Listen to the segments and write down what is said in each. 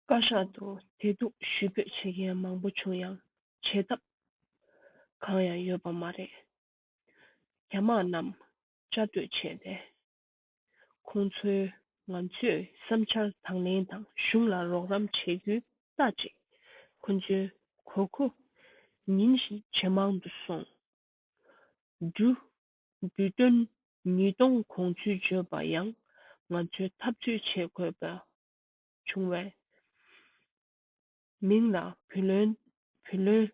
བཀའ་ཤག་ཏུ་དེ་སྡུག་ཞུ་འབོད་བྱེད་མཁན་མང་པོ་བྱུང་ཡང་བྱེད་ཐབས་གང་ཡང་ཡོད་པ་མ་རེད། རྒྱ་དམག་རྣམས་བཅའ་སྡོད་བྱས་ཏེ། ཁོང་ཚོའི་ང་ཚོས་བསམ་འཆར་དང་ལེན་དང་གཞུང་ལ་རོགས་རམ་བྱེད་རྒྱུའི་རྟགས་ཅིག་ཁོང་ཚོའི་གོ་ཁུ་ཉིན་བཞིན་ཇེ་མང་དུ་སོང། འབྲུ་བསྡུས་དོན་ཉིས་སྟོང་གོང་ཚུལ་བརྗོད་པ་ཡང་ང་ཚོའི་འཐབ་རྩོད་བྱེད་དགོས་པ་བྱུང་བས། མིང་ལ་བུ་ལོན། བུ་ལོན།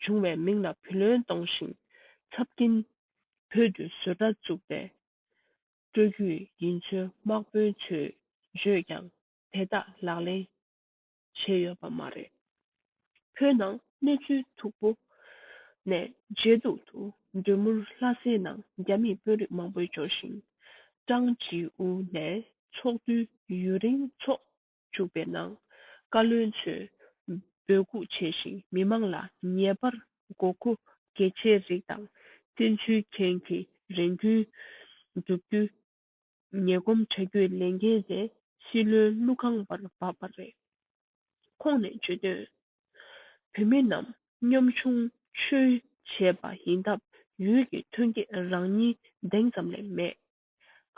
བྱུང་བས་མིང་ལ་བུ་ལོན་གཏོང་ཞིང་ཚབ་ཀྱིན་བོད་དུ་བཟོ་གྲྭ་བཙུགས་པའི་སྤྲོ་རྒྱུད་ཡིན་ཚུལ་དམག་དཔོན་ཚོས་བརྗོད་ཀྱང་དེ་དག་ལག་ལེན་བྱས་ཡོད་པ་མ་རེད། བོད་ནང་གནས་ཚུལ་མཐུག་པོ་ནས་མཇེ་སྡུག་ཏུ་འདོད་མུར་ལྷ་སའི་ནང་རྒྱ་མིས་དཔོན་རིགས་མང་པོའི་འབྱོར་ཞིང། ཀྲང་ཅིའུ་ནས་ཚོགས་འདུ་ཡུན་རིང་ཚོགས་བཅུག་པའི་ནང་བཀའ་བློན་ཚོས་འབོད་འགུག་བྱས་ཤིང་མི་མང་ལ་ཉེས་པར་མགོ་མཁོ་གལ་ཆེའི་རིགས་དང་བཙན་འཛུལ་མཁན་གྱི་རེ་འདུན་བསྒྲུབ་རྒྱུའི་ཉེ་སྒོམ་དྲ་རྒྱུད་ལས་འགན་ནས་སྲིད་བློན་ཀླུ་ཁང་བར་བབས་པ་རེད། ཁོང་ནས་བརྗོད་དོན། བོད་མི་རྣམས་གཉོམ་ཆུང་ཆུལ་བྱས་པ་ཡིན་སྟབས་ཡུལ་གྱི་ཐོན་སྐྱེད་རང་ཉིད་གདེང་ཙམ་ལས་མེད།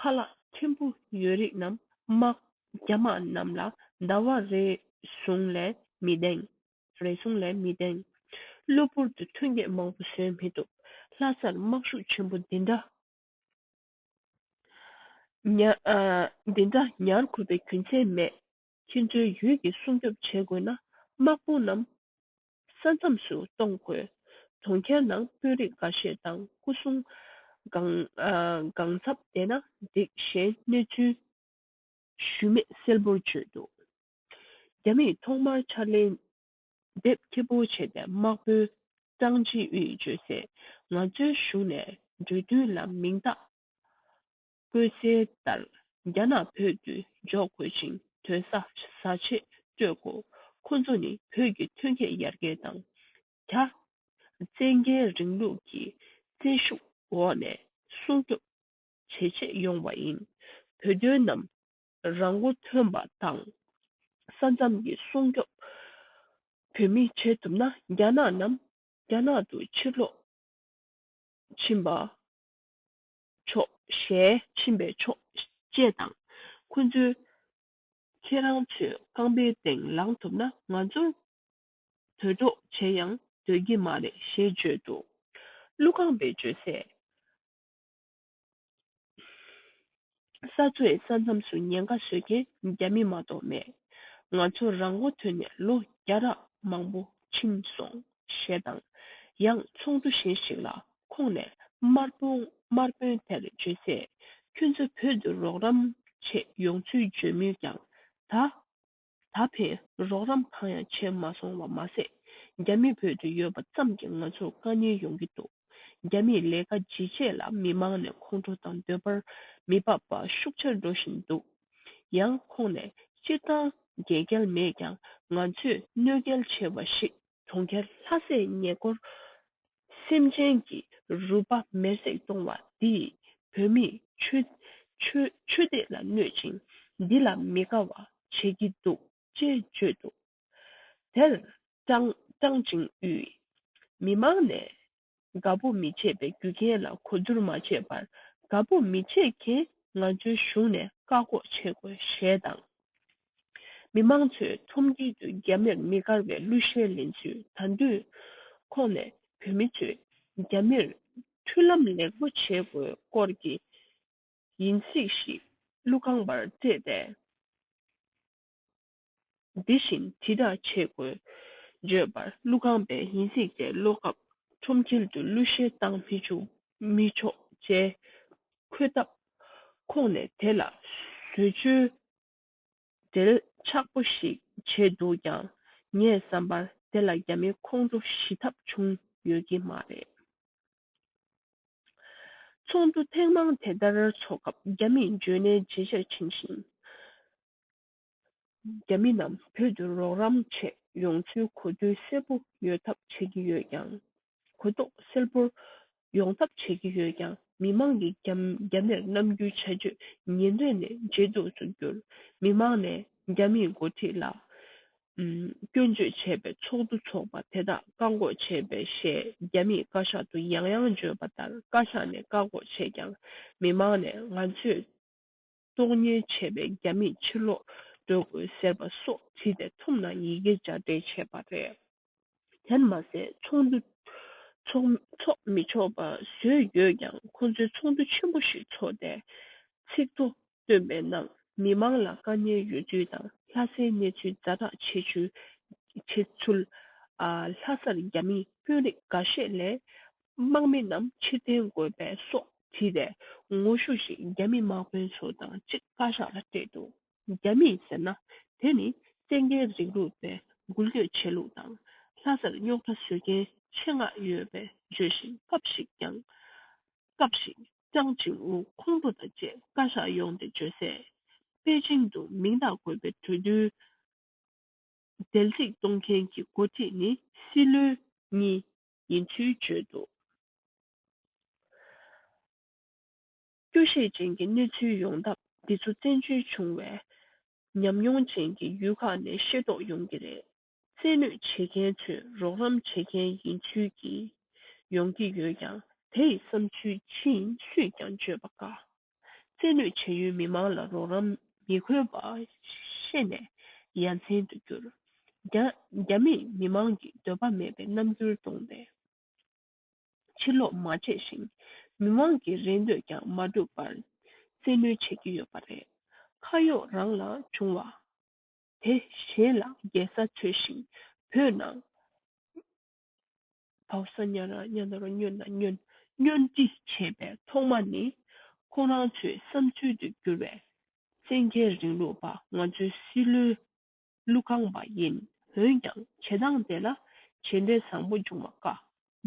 ཁ་ལག་མཁན་པོ་ཡོད་རིགས་རྣམས་དམག་རྒྱ་དམག་རྣམས་ལ་འདའ་བ་རེ་ཟུང་ལས་མི་གདེང། རེ་ཟུང་ལས་མི་གདེང། གློ་བུར་དུ་ཐོན་སྐྱེད་མང་པོ་བཟོས་མི་ཐུབ། ལྷ་སར་དམག་ཤུགས་ཆེན་པོ་འདི་འདྲ། འདི་འདྲ་ཉར་དགོས་པའི་རྒྱུ་མཚན་མེད། ཁྱེད་ཚོའི་ཡུལ་གྱི་སྲུང་སྐྱོབ་བྱེད་དགོས་ན་དམག་དཔུང་རྣམས་ས་མཚམས་སུ་གཏོང་དགོས། གྲོང་ཁྱེར་ནང་དཔོན་རིགས་འགའ་ཤས་དང་སྐུ་སྲུང་གང་འཚམ་བསྡད་ན་འགྲིག་གཞན་གནས་ཚུལ་ཞུས་མེད་གསལ་པོར་བརྗོད་འདུག་རྒྱ་མིས་ཐོག་མར་ཕྱར་ལེན་དེབ་སྐྱིད་པོ་བྱས་པའི་དམག་དཔོན་ཀྲང་དབྱི་ཝུའེ་བརྗོད་སའི་ང་ཚོའི་གཞུང་ནས་འབྲུ་བསྡུ་ལ་མིང་རྟགས་བཀོད་གསལ་ལྟར་རྒྱ་ནག་བོད་དུ་འཇོག་དགོས་ཅིང་དོན་བཟའ་ཆེད་སྤྲོད་དགོས་ཁོ་ཚོ་ནི་བོད་ཀྱི་ཐོན་སྐྱེད་ཡར་རྒྱས་དང་རྒྱ་བཙན་རྒྱལ་རིང་ལུགས་ཀྱི་བཙན་ཤུགས་འོག་ནས་སྲུང་སྐྱོབ་བྱེད་ཆེད་ཡོང་བ་ཡིན། བོད་དོན་ནམ་རང་མགོ་ཐོན་པ་དང་ས་མཚམས་ཀྱི་སྲུང་སྐྱོབ་བོད་མིས་བྱེད་ཐུབ་ན་རྒྱ་ནག་རྣམས་རྒྱ་ནག་ཏུ་ཕྱིར་ལོག་ཕྱིན་པ་ཆོག་ཞེས་ཕྱིན་པས་ཆོག་ཅེས་དང་ཁོ་ཚོས་ཁྱེད་རང་ཚོའི་རྐང་པའི་སྟེང་ལངས་ཐུབ་ན་ང་ཚོར་དོལ་འདྲོགས་བྱེད་ཡང་འདོད་ཀྱི་མ་རེད་ཞེས་བརྗོད་འདུག་ཀླུ་རྐང་པའི་བརྗོད་གསལ། ས་མཚོའི་ས་མཚམས་སུ་ཉེན་ཁ་བཟོས་མཁན་རྒྱ་མི་མ་གཏོགས་མེད། ང་ཚོ་རང་མགོ་ཐོན་ནས་ལོ་བརྒྱ་རག་མང་པོ་ཕྱིན་སོང་ཞེས་དང། ཡང་ཚོགས་འདུ་གཞན་ཞིག་ལ་ཁོང་ནས་དམར་དཔོན་དེར་བརྗོད་ཚེ་ཁྱོད་ཚོ་བོད་དུ་རོགས་རམ་ཆེད་ཡོང་ཚུལ་བརྗོད་མུས་ཀྱང་ད། ད་ཕན་རོགས་རམ་གང་ཡང་བྱས་མ་སོང་བ་མ་ཟད། རྒྱ་མི་བོད་དུ་ཡོད་པ་ཙམ་གྱིས་ང་ཚོར་དཀའ་ཉེན་ཡོང་གི་འདུག་རྒྱ་མིས་ལས་ཀ་ཇི་བྱས་ལ་མི་མང་ནས་ཁོང་ཁྲོ་དང་འདོད་པར་མི་འབབ་པ་ཤུགས་ཆེར་འགྲོ་བཞིན་འདུག་ཡང་ཁོང་ནས་སྤྱིར་བཏང་རྒྱལ་རྒྱལ་མེད་ཀྱང་ང་ཚོས་གནོད་རྒྱལ་ཆེ་བ་ཞིག་གྲོང་ཁྱེར་ལྷ་སའི་ཉེ་སྐོར་སེམས་ཅན་གྱི་རུས་པ་མེར་བསྲེགས་གཏོང་བ་འདིས་བོད་མིའི་ཆོས་དད་ལ་གནོད་ཅིང་འདི་ལ་མི་དགའ་བ་བྱེད་ཀྱི་འདུག་ཅེས་བརྗོད་འདུག་དེར་ཀྲང་ཅིང་ཡུས་མི་མང་ནས་དགའ་པོ་མི་བྱེད་པའི་རྒྱུ་རྐྱེན་ལ་གོ་བསྡུར་མ་བྱས་པར་དགའ་པོ་མི་བྱེད་མཁན་ང་ཚོའི་གཞུང་ནས་བཀག་འགོག་བྱེད་དགོས་ཞེས་དང། མི་མང་ཚོས་ཁྲོམ་དཀྱིལ་དུ་རྒྱ་མིར་མི་དགར་བའི་གླུ་གཞས་ལེན་ཚུལ་ད་དུས་ཁོག་ནས་བོད་མི་ཚོས་རྒྱ་མིར་མཐུན་ལམ་ལེགས་པོ་བྱེད་དགོས་སྐོར་གྱི་ཡིན་གཟིགས་ཤིག་གླུ་རྐང་པར་བརྩེས་ཏེ། འདི་བཞིན་དྲི་དག་ཆས་དགོས། བརྗོད་པར་གླུ་ཁང་པའི་ཡིན་ཚིག་དེ་ཀློག་སྐབས་ཁྲོམ་དཀྱིལ་དུ་གླུ་གཞས་བཏང་མི་བཅུག་མི་ཆོག་ཅེས་འཁོད་སྟབས། ཁོང་ནས་དེ་ལ་བཟོད་བཅོལ་འགྲེལ་ཆགས་པོ་ཞིག་བྱས་འདུག་ཀྱང་ངས་བསམ་པར་དེ་ལ་རྒྱ་མི་ཁོང་ཁྲོ་ཞི་ཐབས་བྱུང་ཡོད་ཀྱི་མ་རེད། ཚོགས་འདུ་ཐེངས་མང་དེ་ལྟར་ཚོགས་སྐབས་རྒྱ་མིས་འཇོན་ནའི་བརྗེད་ཆགས་འཆིང་བཞིན། རྒྱ་མི་རྣམས་བོད་དུ་རོགས་རམ་ཆེད་ཡོང་ཚུལ་གོ་དོན་གསལ་པོ་ཡོད་ཐབས་བྱེད་ཀྱི་ཡོད་ཀྱང། གོ་རྟོགས་སེལ་པོར་ཡོང་ཐབས་བྱེད་ཀྱི་ཡོད་ཀྱང་མི་མང་གི་རྒྱ་མིར་རྣམ་འགྱུར་བྱ་སྤྱོད་ཉིན་རེ་ནས་ཇེ་སྡུག་ཏུ་གྱུར། མི་མང་ནས་རྒྱ་མིའི་མགོ་ཁྲིད་ལ་སྐྱོན་བརྗོད་བྱས་པའི་ཚོགས་འདུ་ཚོགས་པ་དེ་དག་བཀག་འགོག་བྱས་པས་ཞེས་རྒྱ་མིས་བཀའ་ཤག་ཏུ་ཡང་ཡང་བརྗོད་པ་ལྟར་བཀའ་ཤག་ནས་བཀག་འགོག་བྱས་ཀྱང་མི་མང་ནས་ང་ཚོས་གསོག་ཉེན་ཆེ་བས་རྒྱ་མིས་ཕྱིར་ལོག་སྡོད་དགོས་ཟེར་བ་སོགས་བྲིས་ཏེ་ཐུམ་ནང་ཡི་གེ་སྦྱར་སྤྲད་བྱས་པ་རེད། དེར་མ་ཟད་ཚོགས་འདུ་འཚོགས་མི་ཆོག་པ་བཟོས་ཡོད་ཀྱང་ཁོ་ཚོས་ཚོགས་འདུ་ཆེན་པོ་ཞིག་འཚོགས་ཏེ་ཚིག་ཐོ་བཏོན་པའི་ནང་མི་མང་ལ་དཀའ་ཉེན་ཡོད་ཚུལ་དང་ལྷ་སའི་གནས་ཚུལ་རྫ་བསྒྲགས་བྱས་ཚུལ། ལྷ་སར་རྒྱ་མིའི་དཔོན་རིགས་འགའ་ཤས་ལས་དམག་མི་རྣམས་ཕྱིར་འཐེན་དགོས་པའི་སོགས་དྲིས་པའི་ངོ་ཤུགས་ཤིག་རྒྱ་མི་དམག་དཔོན་ཚོ་དང་གཅིག་བཀའ་ཤག་ལ་སྤྲད་འདུག་རྒྱ་མི་ཟེར་ན་དེ་ནི་བཙན་རྒྱལ་རིང་ལུགས་པའི་འགུལ་སྐྱོད་བྱེད་ལུགས་དང་ལྷ་སར་རྙོག་དྲ་བཟོས་མཁན་ཆེད་མངགས་ཡོད་པའི་བརྗོད་བཞིན་སྐབས་ཤིག་ཀྱང་སྐབས་ཤིག་ཀྱང་ཅིང་ཝུ་ཁོང་ཁྲོ་དང་བཅས་བཀའ་ཤག་ཡོང་སྟེ་བརྗོད་གསལ་པེ་ཅིང་དུ་མིང་རྟགས་དགོས་པའི་གྲོས་བསྡུར་འདེལ་གཅིག་གཏོང་མཁན་གྱི་འགོ་ཁྲིད་ནི་སྲིད་བློན་གཉིས་ཡིན་ཚུལ་བརྗོད་འདུག་སྐྱོ་ཤས་ཅན་གྱི་གནས་ཚུལ་ཡོང་ཐབས་འདི་ཚོ་བཙན་བྱོལ་བྱུང་བའི་ཉམས་མྱོང་ཅན་གྱི་ཡུལ་ཁག་ནས་ཤེས་རྟོགས་ཡོང་གི་རེད། རྩལ་ནུས་བྱེད་མཁན་ཚོས་རོགས་རམ་བྱེད་མཁན་ཡིན་ཚུལ་གྱིས་ཡོང་གི་ཡོད་ཀྱང་དེ་ཡི་བསམ་ཚུལ་ཅི་ཡིན་སུས་ཀྱང་བརྗོད་པ་དཀའ། རྩིས་ལུས་བྱེད་ཡུལ་མི་མང་ལ་རོགས་རམ་མི་དགོས་པ་ཤེས་ནས་ཡ་མཚན་དུ་གྱུར། རྒྱ་མིས་མི་མང་གི་འདོད་པ་མེད་པའི་རྣམ་འགྱུར་བསྟོང་སྟེ་ཕྱིར་ལོག་མ་བྱས་ཤིང་མི་མང་གི་རེ་འདོད་ཀྱང་མ་འགྲུབ་པར་རྩིས་ལུས་བྱེད་ཀྱི་ཡོད་པ་རེད། ཁ་གཡོག་རང་ལ་བྱུང་བ་དེ་གཞན་ལ་འགྱེལ་ས་འཚོལ་ཞིང་བོད་ནང་བག་ས་ཉྭ་ར་ཉྭ་ནོར་སྨྱོན་ན་སྨྱོན་སྨྱོན་ཅི་བྱེད་པའི་ཐོག་མ་ནི་ཁོང་རང་ཚོའི་བསམ་ཚུལ་དུ་གྱུར་བའི་བཙན་རྒྱལ་རིང་ལུགས་པ་ང་ཚོའི་སྲིད་བློན་ཀླུ་ཁང་པ་ཡིན་འོན་ཀྱང་བྱེད་སྟངས་དེ་ལ་བྱེད་འབྲས་བཟང་པོ་འབྱུང་བ་དཀའ་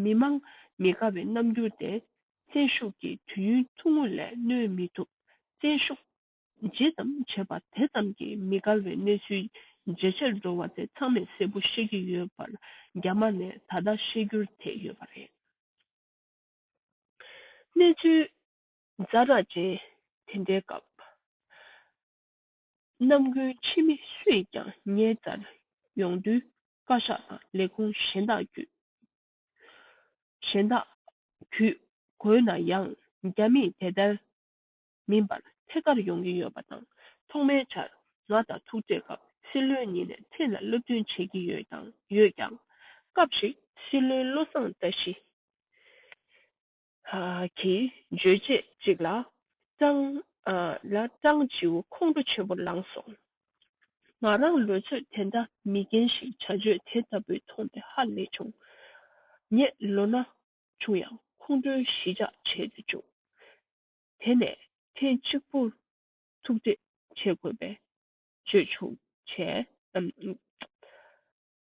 མི་མང་མི་དགའ་བའི་རྣམ་འགྱུར་དེ་བཙན་ཤུགས་ཀྱིས་དུས་ཡུན་ཐུང་ངུ་ལས་གནོན་མི་ཐུབ་བཙན་ཤུགས། ཇི་ཙམ་བྱས་པ་དེ་ཙམ་གྱིས་མི་དགའ་བའི་གནས་ཚུལ་ཇེ་ཆེར་འགྲོ་བ་དེ་ཚང་མས་གསལ་པོ་ཤེས་ཀྱི་ཡོད་པར་རྒྱ་དམར་ནས་ད་ལྟ་ཤེས་རྒྱུར་དེད་ཡོད་པ་རེད། གནས་ཚུལ་རྫ་དྲག་ཅན་དེ་འདྲའི་སྐབས། རྣམ་ཀུན་ཕྱི་མི་སུས་ཀྱང་ངའི་རྩར་ཡོང་དུས་བཀའ་ཤག་དང་ལས་ཁུངས་གཞན་དག་བརྒྱུད། གཞན་དག་བརྒྱུད་དགོས་ན་ཡང་རྒྱ་མིས་དེ་ལྟར་མིན་པར་ཐད་ཀར་ཡོང་གི་ཡོད་པ་དང་ཐོག་མའི་ཆར་ང་དང་ཐུག་འཕྲད་སྐབས་སྲིད་བློན་ཉིད་ནས་ཚིག་ལ་བློ་མཐུན་བྱེད་ཀྱི་ཡོད་དང་ཡོད་ཀྱང། སྐབས་ཤིག་སྲིད་བློན་བློ་བཟང་བཀྲ་ཤིས་ཀྱིས་བརྗོད་རྗེས་གཅིག་ལ་ཀྲང་ཆིའུ་ཁོང་ཁྲོ་ཆེན་པོ་ལངས་སོང། ང་རང་ལོས་ཚོད་དེ་འདྲ་མི་རྒན་ཞིག་བྱ་སྤྱོད་དེ་ལྟ་བུ་མཐོང་སྟེ་ཧ་ལས་བྱུང། ངས་ལོ་ན་ཆུང་ཡང་ཁོང་ཁྲོའི་གཞིས་ཆགས་བྱེད་དུ་བཅུག། དེ་ནས་ཐེངས་གཅིག་པུ་ཐུག་འཕྲད་བྱེད་དགོས་པའི་བརྗོད་བྱུང་བྱས།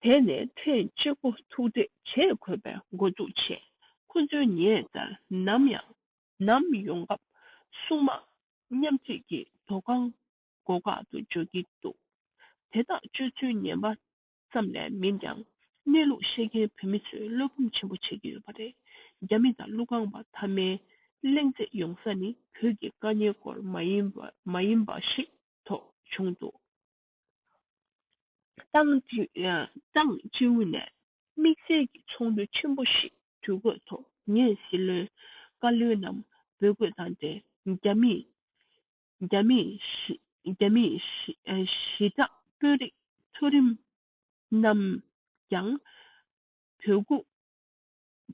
དེ་ནས་ཐེངས་གཅིག་པུ་ཐུག་འཕྲད་བྱེད་དགོས་པའི་མགོ་འཛུགས་བྱས། ཁོ་ཚོའི་ཉེ་འདར་ནམ་ཡང་ནམ་ཡོང་སྐབས་སྲུང་དམག་མཉམ་བརྗེས་ཀྱི་དོ་ཁང་སྒོ་ཁག་ཏུ་འཇོག་གི་འདུག་དེ་དག་སྤྱོད་ཚུལ་ངན་པ་ཙམ་ལས་མིན་ཀྱང་གནས་ལུགས་ཤེས་མཁན་བོད་མི་ཚོས་བློ་འབུམ་ཆེན་པོ་བྱེད་ཀྱི་ཡོད་པ་རེད་རྒྱ་མི་དང་ཀླུ་རྐང་པ་མཐའ་མའི་གླེང་རྩེད་ཡོང་ས་ནི་བོད་ཀྱི་དཀའ་ཉེན་སྐོར་མ་ཡིན་མ་ཡིན་པ་ཞིག་ཐོག་བྱུང་འདུག་ཏང་ཀྲུའུ་ནས་དམིགས་བསལ་གྱི་ཚོགས་འདུ་ཆེན་པོ་ཞིག་དུས་བཀོད་ཐོག་ངས་སྲིད་བློན་བཀའ་བློན་རྣམས་འབོད་དགོས་དང་འབྲེལ་རྒྱ་མིས་རྒྱ་མིའི་ཞི་དྲག་དཔོན་རིགས་མཐོ་རིམ་རྣམས་ཀྱང་བོད་སྒུག་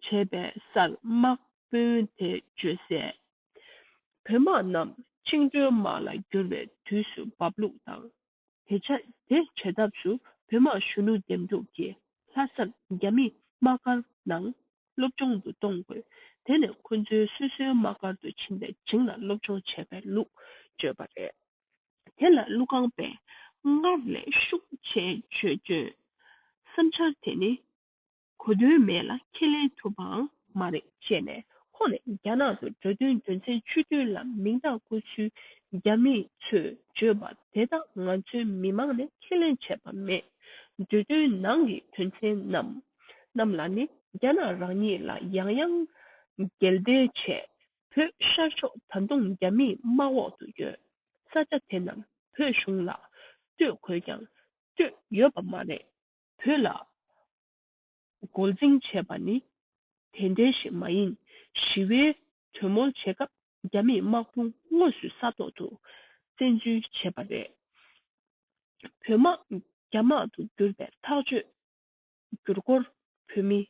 བྱས་པའི་སར་དམག་དཔོན་དེ་བཅོལ་སའི་བོད་དམག་རྣམས་བཅིངས་འགྲོལ་དམག་ལ་བསྒྱུར་བའི་དུས་སུ་འབབ་ལུགས་དང། དེ་ཆ་དེ་བྱེད་ཐབས་སུ་བོད་དམག་གཞོན་ནུ་འདེམས་སྒྲུག་གིས་ལྷ་སར་རྒྱ་མིས་དམག་སྒར་ནང་སློབ་སྦྱོང་དུ་གཏོང་དགོས་དེ་ནས་ཁོ་ཚོའི་སོ་སོའི་དམག་སྒར་དུ་ཕྱིན་པའི་བྱིངས་ལ་སློབ་སྦྱོང་བྱེད་པའི་ལུགས་བཅོས་པ་རེད། དེ་ལ་ཀླུ་སྒང་པས་སྔར་ལས་ཤུགས་ཆེ་བྱོས་བྱོས། བསམ་འཆར་དེ་ནི་གོ་དོན་མེད་ལ་ཁས་ལེན་ཐུབ་པའང་མ་རེད་བཤད་ནས་ཁོང་ནས་རྒྱ་ནག་ཏུ་འགྲོ་དོན་རྒྱུ་མཚན་ཆུ་རྡུལ་ལ་མིང་རྟགས་བཀོད་ཚུལ་རྒྱ་མི་ཚོས་བརྗོད་པ་དེ་དག་ང་ཚོའི་མི་མང་ནས་ཁས་ལེན་བྱས་པ་མེད། འབྲུ་དོན་ནང་གི་དོན་ཚན་རྣམས་རྣམས་ལ་ནི་རྒྱ་ནག་རང་ཉིད་ལ་ཡང་ཡང་འགལ་འདེ་བྱས། བོད་ཤར་ཕྱོགས་ད་དུང་རྒྱ་མིའི་དམག་འོག་ཏུ་ཡོད་ས་ཆ་དེ་རྣམས་བོད་གཞུང་ལ་སྤྲོད་དགོས་ཀྱང་སྤྲོད་ཡོད་པ་མ་རེད། བོད་ལ་མགོ་འཛིང་བྱས་པ་ནི་དེ་འདྲའི་ཞིག་མ་ཡིན། ཞི་བའི་གྲོས་མོལ་བྱེད་སྐབས་རྒྱ་མིས་དམག་དཔུང་དངོས་སུ་ས་ཐོག་ཏུ་བཙན་འཛུལ་བྱས་པ་རེད། བོད་དམག་རྒྱ་དམག་ཏུ་བསྒྱུར་པའི་ཐག་གཅོད་བསྒྱུར་སྐོར་བོད་མིས་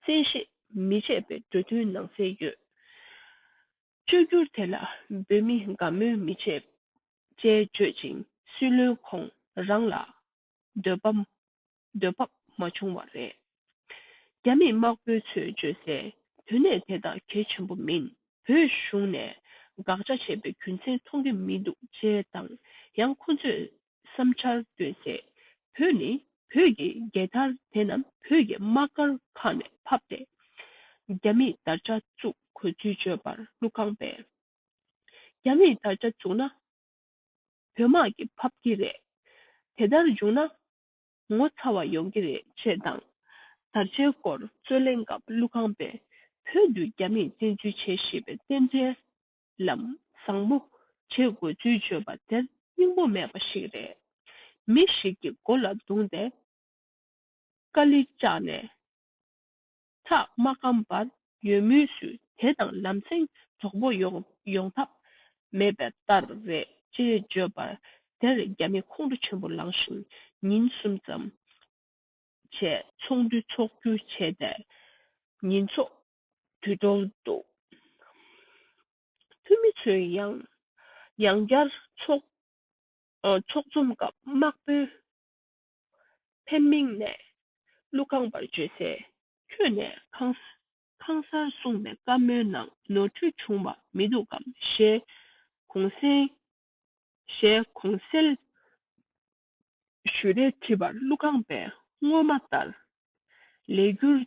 བཙན་ཤེད་མི་བྱེད་པའི་གྲོས་མཐུན་ནང་གསལ་ཡོད། བཅོས་བསྒྱུར་དེ་ལ་བོད་མིས་དགའ་མོས་མི་བྱེད། ཅེས་བརྗོད་ཅིང་སྲིད་བློན་ཁོང་རང་ལ་འདོད་པ། འདོད་པ་མ་བྱུང་བ་རེད། རྒྱ་མི་དམག་དཔོན་ཚོས་བརྗོད་སའི་དོན་གནད་དེ་དག་གལ་ཆེན་པོ་མིན། བོད་གཞུང་ནས་དགག་བྱ་བྱས་པའི་རྒྱུ་མཚན་མཐོང་གི་མི་འདུག་ཅེས་དང་ཡང་ཁོ་ཚོས་བསམ་འཆར་བཏོན་སའི་བོད་ནི་བོད་ཀྱི་རྒྱལ་དར་དེ་རྣམས་བོད་ཀྱི་དམག་སྒར་ཁག་ནས་ཕབ་སྟེ་རྒྱ་མིས་དར་ཆ་བཙུགས་དགོས་ཚུལ་བརྗོད་པར་ཀླུ་ཁང་པས། རྒྱ་མིས་དར་ཆ་བཙུགས་ན། བོད་དམག་གིས་ཕབ་ཀྱི་རེད། དེ་ལྟར་བྱུང་ན། ངོ་ཚ་བ་ཡོང་གི་རེད་ཅེས་དང། དར་ཆའི་སྐོར་རྩོད་གླེང་སྐབས་ཀླུ་ཁང་པས་བོད་དུ་རྒྱ་མིས་བཙན་འཛུལ་བྱས་ཞེས་པའི་རྟེན་འབྲེལ་ལམ་བཟང་པོ་བྱེད་དགོས་ཚུལ་བརྗོད་པ་དེར་སྙིང་པོ་མེད་པ་ཞིག་རེད། མི་ཞིག་གི་མགོ་ལ་བརྡུངས་ཏེ་ཀ་ལི་བཅག་ནས། ཐག་མ་སྐམ་པར་ཡོད་མུས་སུ་དེ་དང་ལམ་སེང་གྲོགས་པོ་ཡོང་ཐབས་མེད་པའི་ལྟར་རེད་ཅེས་བརྗོད་པར་དེར་རྒྱ་མི་ཁོང་ཁྲོ་ཆེན་པོ་ལངས་ཤིང་ཉིན་གསུམ་ཙམ་བྱས་ཚོགས་འདུ་འཚོགས་རྒྱུ་བྱས་ཏེ་ཉིན་ཚོགས་འདུ་འགྲོ་འདུག་འཐུས་མི་ཚོས་ཡང་ཡང་བསྐྱར་ཚོགས་འཛོམས་སྐབས་དམག་དཔོན་ཕེབས་མིང་ནས་ཀླུ་རྐང་པར་བརྗོད་སའི་ཁྱོད་ནས་ཁང་གསར་བསྲུངས་པའི་བཀའ་མོལ་ནང་ནོར་འཁྲུལ་བྱུང་བ་མི་འདུག་གམ་ཞེས་གོང་གསལ་ཞུས་རེ་དྲིས་པར་ཀླུ་རྐང་པས་སྔོན་མ་ལྟར་ལས་རྒྱུར་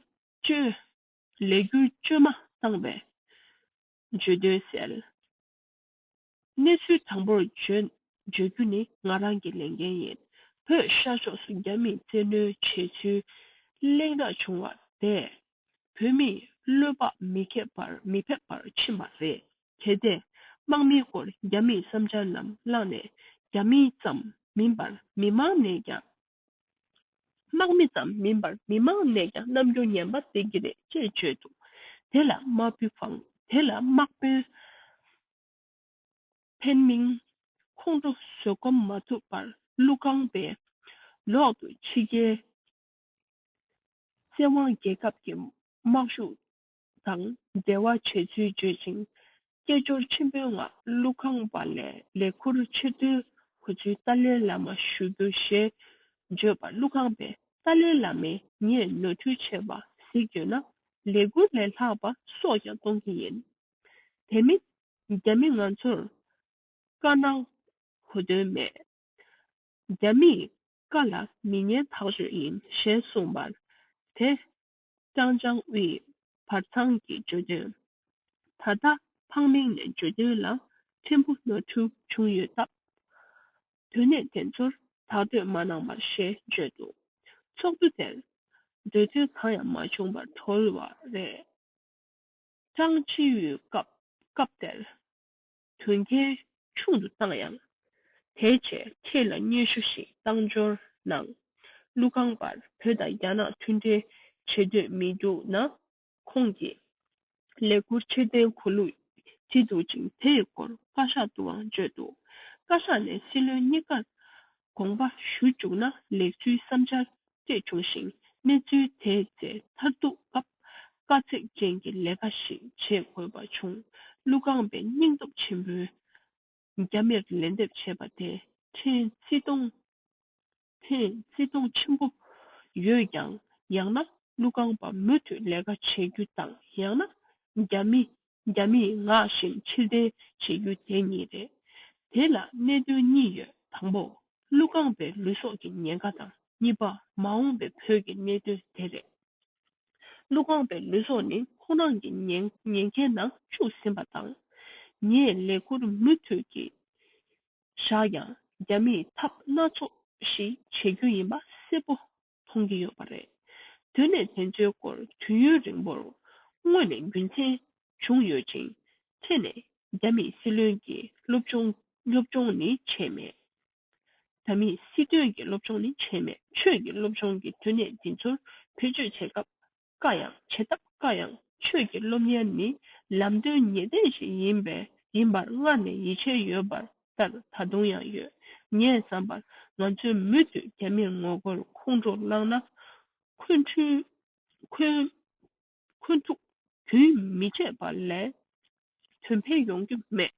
བཅོས་མ་བཏང་བའི་བརྗོད་དོན་གསལ། གནས་ཚུལ་དང་པོར་བརྗོད་རྒྱུ་ནི་ང་རང་གི་ལས་འགན་ཡིན། བོད་ཤར་ཕྱོགས་སུ་རྒྱ་མིས་བཙན་གནོན་བྱས་ཚུལ་གླེང་རག་བྱུང་བ་དེས་བོད་མིས་བློས་དཔག་མི་ཁེབས་པར་མི་ཕེབས་པར་ཕྱིན་པ་རེད། གལ་ཏེ་དམག་མིའི་སྐོར་རྒྱ་མིས་བསམ་འཆར་རྣམས་བླངས་ནས་རྒྱ་མིའི་ཙམ་མིན་པར་མི་མང་ནས་ཀྱང་དམག་མི་ཙམ་མིན་པར་མི་མང་ནས་ཀྱང་རྣམ་འགྱུར་ངན་པ་འདེགས་ཀྱི་རེད་ཅེས་བརྗོད་འདུག་དེ་ལ་དམག་དཔོན་ཕེན་མིང་ཁོང་ཁྲོ་བཟོད་སྒོམ་མ་ཐུབ་པར་ཀླུ་རྐང་པའི་ལོག་ཏུ་ཕྱི་རྒྱལ་བཙན་དབང་རྒྱལ་ཁབ་ཀྱི་དམག་ཤུགས་དང་འབྲེལ་བ་བྱས་ཚུལ་བརྗོད་ཅིང། སྐད་ཅོར་ཆེན་པོའི་ངང་ཀླུ་ཁང་པ་ལས་ལས་འཁུར་ཕྱིར་བསྡུའི་གོ་ཚུལ་ཏཱ་ལའི་བླ་མ་ཞུ་རྒྱུ་ཞེས་བརྗོད་པར་ཀླུ་ཁང་པས་ཏཱ་ལའི་བླ་མས་ངས་ནོར་འཁྲུལ་བྱས་པ་གཟིགས་ཡོད་ན་ལས་འཁུར་ལས་ལྷག་པ་སོགས་ཀྱང་གཏོང་གི་ཡིན། དེ་མིན་རྒྱ་མི་ང་ཚོར་བཀའ་གནང་གོ་དོན་མེད། རྒྱ་མིས་བཀའ་ལ་མི་ཉན་ཐག་གཅོད་ཡིན་ཞེས་གསུངས་པར་དེ་ཅང་ཅང་དབྱི། བར་ཚང་གི་བརྗོད་དོན། ད་ལྟ་ཕག་མིང་ནས་བརྗོད་དོན་ལ་ཕྲན་བུ་ནོར་འཁྲུལ་བྱུང་ཡོད་སྟབས། དོན་གནད་དེ་ཚོར་དག་སྡོད་མ་གནང་བར་ཞེས་བརྗོད་འདུག་ཚོགས་འདུ་དེར་འདོད་དོན་གང་ཡང་མ་བྱུང་བར་གྲོལ་བ་རེད། ཅང་ཅི་དབྱིས་སྐབས་དེར་དོན་རྐྱེན་ཆུང་དུ་བཏང་ཡང། དེའི་ཆེད་ཁྱེད་ལ་སྙན་ཞུ་ཞིག་བཏང་འབྱོར་གནང། ཀླུ་ཁང་པར་བོད་དང་རྒྱ་ནག་མཐུན་འབྲེལ་བྱེད་འདོད་མི་འདུག་ན། ཁོང་གིས་ལས་འཁུར་ཕྱིར་འཐེན་གོ་ལུགས་ཇི་འདུག་ཅིང་དེ་ཡི་སྐོར་བཀའ་ཤག་ཏུའང་བརྗོད་འདུག་བཀའ་ཤག་ནས་སྲིད་བློན་གཉིས་ཀར་དགོངས་པ་ཞུ་བཅུག་ན་ལེགས་ཚུལ་བསམ་འཆར་བཅས་བྱུང་ཞིང་གནས་ཚུལ་དེ་བཙལ་མཐར་ཐུག་སྐབས་དཀའ་ཚེགས་ཅན་གྱི་ལས་ཀ་ཞིག་བྱེད་དགོས་པ་བྱུང་ཀླུ་རྐང་པའི་སྙིང་སྟོབས་ཆེན་པོས་རྒྱ་མིར་ལན་འདེབས་བྱས་པ་དེ་ཕྲན་བརྩི་མཐོང་ཕྲན་བརྩི་མཐོང་ཆེན་པོ་ཡོད་ཀྱང་ཡང་ན་ཀླུ་རྐང་པ་མུ་མཐུད་ལས་ཀ་བྱེད་རྒྱུ་དང་ཡང་ན་རྒྱ་མི་རྒྱ་མིས་ངག་བཞིན་ཕྱིར་བསྡད་བྱེད་རྒྱུ་དེ་གཉིས་རེད། དེ་ལ་གནད་དོན་གཉིས་ཡོད་དང་པོ། ཀླུ་རྐང་པའི་ལུས་སྲོག་གི་ཉེན་ཁ་དང་གཉིས་པ་མ་འོངས་པའི་བོད་ཀྱི་གནད་དོན་དེ་རེད། ཀླུ་རྐང་པའི་ལུས་སྲོག་ནི་ཁོང་རང་གི་ཉེན་ཁའི་ནང་བཅུག་ཟིན་པ་དང། ངས་ལས་འཁུར་མུ་མཐུད་ཀྱིས་བཞག་ཡང་རྒྱ་མིས་ཐབས་སྣ་ཚོགས་ཤིག་བྱེད་རྒྱུ་ཡིན་པ་གསལ་པོ་མཐོང་གི་ཡོད་པ་རེད། དུས་ནས་དེ་ཚོའི་སྐོར་དུས་ཡུན་རིང་པོར་སྔོན་ནས་རྒྱུ་མཚན་བྱུང་ཡོད་ཅིང། ཁྱེད་ནས་རྒྱ་མིས་སྲིད་བློན་གྱི་སློབ་སྦྱོང་སློབ་སྦྱོང་ནི་བྱས་མེད། རྒྱ་མིས་སྲིད་དོན་གྱི་སློབ་སྦྱོང་ནི་བྱས་མེད་ཆོས་ཀྱི་སློབ་སྦྱོང་གི་དུས་ནས་འདི་ཚོར་བེད་སྤྱོད་བྱེད་སྐབས་དཀའ་ཡང་བྱེད་ཐབས་དཀའ་ཡང་ཆོས་ཀྱི་སློབ་གཉེར་ནི་ལམ་སྟོན་ངེས་གཏན་ཞིག་ཡིན་པས་ཡིན་པར་སྔར་ནས་ཡིད་ཆེས་ཡོད་པར་ལྟར་ད་དུང་ཡང་ཡོད། ངས་བསམ་པར་ང་ཚོས་མུ་མཐུད་རྒྱ་མིར་ངོ་རྒོལ་ཁོང་ཁྲོ་བསླངས་ན། ཁོན་ཁྲུའུ། ཁོན། ཁོན་ཁྲུ། རྒྱུན་མི་ཆད་པ་ལས་དོན་ཕན་ཡོང་རྒྱུ་མེད།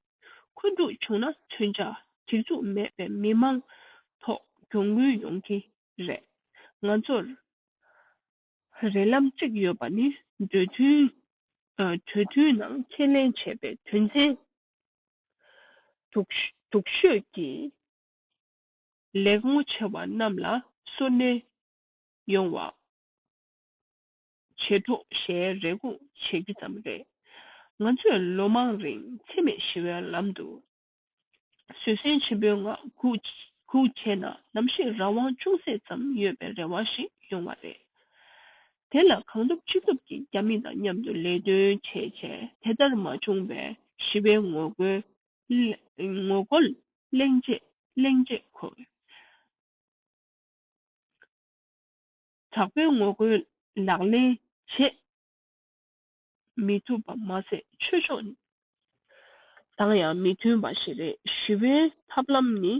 ཁོན་ཁྲུ་བྱུང་ན་མཚོན་ཆ་སྒྲིག་འཛུགས་མེད་པའི་མི་དམངས་ཐོག་གྱོང་གུན་ཡོང་གི་རེད། ང་ཚོར། བར་རེ་ལམ་གཅིག་ཡོད་པ་ནི་འདོད་མཐུན། གྲོས་མཐུན་ནང་ཁས་ལེན་བྱས་པའི་དོན་ཚན་དུག་ཤོས་ཀྱི་ལེགས་ངོ་ཆེ་བ་རྣམས་ལ་སོར་སྣོན་ཡོང་བ་བྱེད་འགྲོ་ཞེས་རེ་སྒུག་བྱེད་རྒྱུ་ཙམ་རེད། ང་ཚོས་ལོ་མང་རིང་འཚེ་མེད་ཞི་བའི་ལམ་དུ་བཟོད་བསྲན་ཆེན་པོའི་ངང་སྒུག་བྱས་ན་ནམ་ཞིག་རང་དབང་ཅུང་ཟད་ཙམ་ཡོད་པའི་རེ་བ་ཞིག་ཡོང་བ་རེད། དེ་ལ་གང་ཐུབ་ཅི་ཐུབ་ཀྱིས་རྒྱ་མི་དང་མཉམ་དུ་ལས་དོན་བྱས་བྱས་དེ་ལྟར་མ་བྱུང་བས་ཞི་བའི་ངོ་རྒོལ་གླེང་རྗེས་ཁོ་བོས། དྲག་པོའི་ངོ་རྒོལ་ལག་ལེན་བྱེད། མི་ཐུབ་པ་མ་ཟད་ཆོས་ཕྱོགས་དང་ཡང་མི་མཐུན་པ་ཞིག་རེད་ཞི་བའི་ཐབས་ལམ་ནི་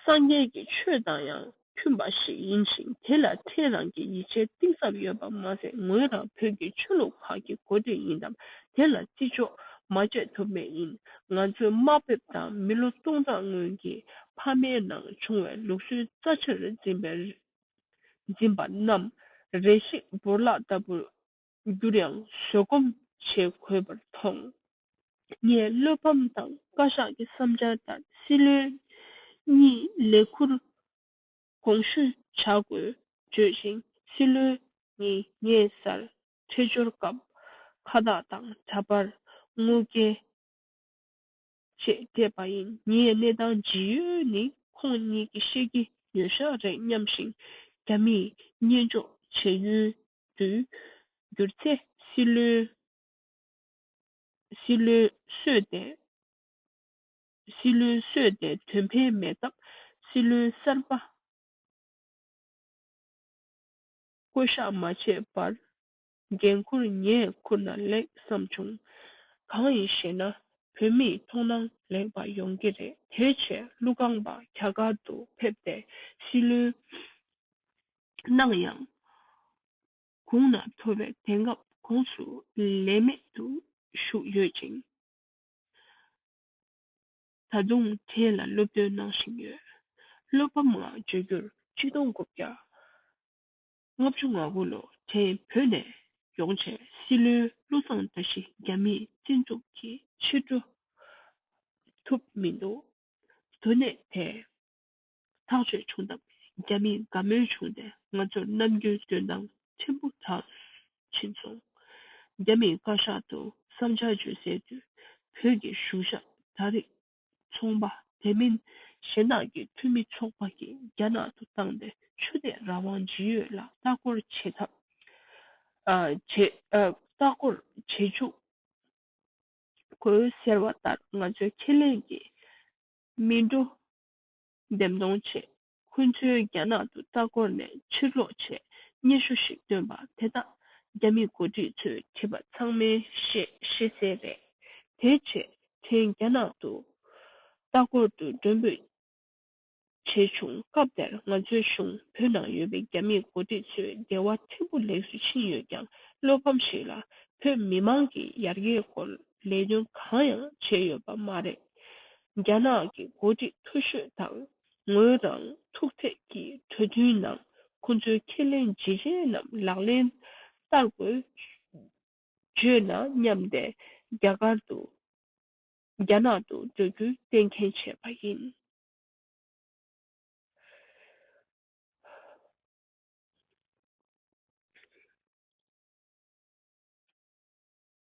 སངས་རྒྱས་ཀྱི་ཆོས་དང་ཡང་མཐུན་པ་ཞིག་ཡིན་ཞིང་དེ་ལ་ཐལ་རང་གི་ཡིད་ཆེས་གཏིང་ཟབ་ཡོད་པ་མ་ཟད་ངོས་རང་བོད་ཀྱི་ཆོས་ལུགས་ཁག་གི་མགོ་སྟོད་ཡིན་སྟབས་དེ་ལ་བརྩི་འཇོག་མ་བྱས་ཐུབ་མེད་ཡིན་ང་ཚོའི་དམའ་འབེབས་དང་མི་ལོ་སྟོང་ཕྲག་སྔོན་གྱི་ཕ་མའི་ནང་བྱུང་བའི་ལུགས་སྲོལ་རྩ་ཆེར་འཛིན་པའི་འཛིན་པ་རྣམས་རེ་ཞིག་འབུར་ལག་ལྟ་བུར་འགྱུར་ཡང་བཟོད་སྒོམ་བྱེད་དགོས་པར་མཐོང། ངས་བློ་ཕམ་དང་བཀའ་ཤག་གི་བསམ་འཆར་ལྟར་སྲིད་བློན་གཉིས་ལས་འཁུར་དགོངས་ཞུ་བྱ་དགོས་བརྗོད་ཅིང་སྲིད་བློན་གཉིས་ངེད་སར་འཕྲད་འབྱོར་སྐབས་ཁ་བརྡ་དང་འདྲ་པར་དངུལ་བསྐྱལ་ཅེས་བསྐྲད་པ་ཡིན་ངའི་གནས་སྟངས་ཇི་ཡོད་ནི་ཁོང་གཉིས་ཀྱིས་ཤེས་ཀྱི་ཡོད་ཤག་རེད་སྙམ་ཞིང་རྒྱ་མིས་བརྙས་འཇོག་བྱེད་ཡུལ་དུ་གྱུར་ཚེ་སྲིད་བློའི་སྲིད་བློའི་གསོས་ཏེ་སྲིད་བློའི་གསོས་ཏེ་དོན་ཕན་མེད་སྟབས་སྲིད་བློའི་གསར་པ་བསྐོ་གཞག་མ་བྱས་པར་འགན་ཁུར་ངས་ཁུར་ན་ལེགས་བསམ་བྱུང། གང་ཡིན་ཞེ་ན་བོད་མིའི་མཐོང་སྣང་ལེགས་པ་ཡོང་གི་རེད་དེའི་ཆེད་ཀླུ་རྐང་པ་ག་ག་ཏུ་ཕེབས་ཏེ་སྲིད་བློའི་སྣང་ཡང། གུང་ན་ཐོ་བའི་དེང་སྐབས་གོང་སུ་ལས་མེད་དུ་བཞུགས་ཡོད་ཅིང། ད་དུང་དེ་ལ་སློབ་སྟོན་གནང་བཞིན་ཡོད། བློ་ཕམ་ངང་བརྗོད་རྒྱུར་གཅིག་སྟོང་དགུ་བརྒྱ་ལྔ་བཅུ་ང་དགུ་ལོ་དེའི་བོད་ནས་ཡོང་བྱས་སྲིད་བློན་བློ་བཟང་བཀྲ་ཤིས་རྒྱ་མིས་བཙན་བཙུགས་ཀྱིས་ཕྱིར་འགྲོ་ཐུབ་མི་འདུག་དོན་གནད་དེ། ཐག་ཆོད་བྱུང་སྟབས་རྒྱ་མིས་དགའ་མོས་བྱུང་སྟེ་ང་ཚོར་ནམ་རྒྱུན་སྐྱོན་བརྡང་ཆེན་པོ་གྲགས་ཕྱིན་སོང། རྒྱ་མིས་བཀའ་ཤག་ཏུ་བསམ་འཆར་བརྗོད་སའི་དུས་བོད་ཀྱི་གཞུང་ཞབས་ད་རེས་ཚོང་པ་དེ་མིན་གཞན་དག་གི་འཐུས་མི་ཚོགས་པ་གིས་རྒྱ་ནག་ཏུ་བཏང་སྟེ་ཆོས་དད་རང་དབང་ཇི་ཡོད་ལ་ལྟ་སྐོར་བྱེད་ཐབས་བྱེད། ལྟ་སྐོར་བྱེད་འཇུག་དགོས་ཟེར་བ་ལྟར་ང་ཚོའི་ཁས་ལེན་གྱི་སྨིན་གྲོ་འདེམས་གཏོང་བྱས། ཁོ་ཚོའི་རྒྱ་ནག་ཏུ་ལྟ་སྐོར་ནས་ཕྱིར་ལོག་ཆེད་སྙན་ཞུ་ཞིག་བཏོན་པ་དེ་དག་རྒྱ་མི་འགོ་ཁྲིད་ཚོས་བྲིས་པ་ཚང་མའི་ཤེས་ཤེས་གསལ་རེད། དེའི་ཆེད་དེང་རྒྱ་ནག་ཏུ་ལྟ་སྐོར་དུ་མགྲོན་འབོད་བྱས་བྱུང་སྐབས་དེར་ང་ཚོའི་གཞུང་བོད་ནང་ཡོད་པའི་རྒྱ་མི་འགོ་ཁྲིད་ཚོའི་འགལ་བ་ཕྲན་བུ་ལེགས་སུ་ཕྱིན་ཡོད་ཀྱང་བློ་ཕམ་ཞིག་ལ་བོད་མི་མང་གིས་ཡར་རྒྱས་སྐོར་ལས་དོན་གང་ཡང་བྱས་ཡོད་པ་མ་རེད། རྒྱ་ནག་གི་འགོ་ཁྲིད་མཐོ་ཤོས་དང་ངོས་རང་ཐུག་འཕྲད་ཀྱི་གྲོས་མཐུན་ནང་ཁོ་ཚོའི་ཁས་ལེན་བརྗེ་རེས་རྣམས་ལག་ལེན་བསྟར་དགོས། བརྗོད་ན་སྙམ་སྟེ་རྒྱ་གར་དུ་རྒྱ་ནག་ཏུ་འགྲོ་རྒྱུའི་གཏན་མཁན་བྱས་པ་ཡིན།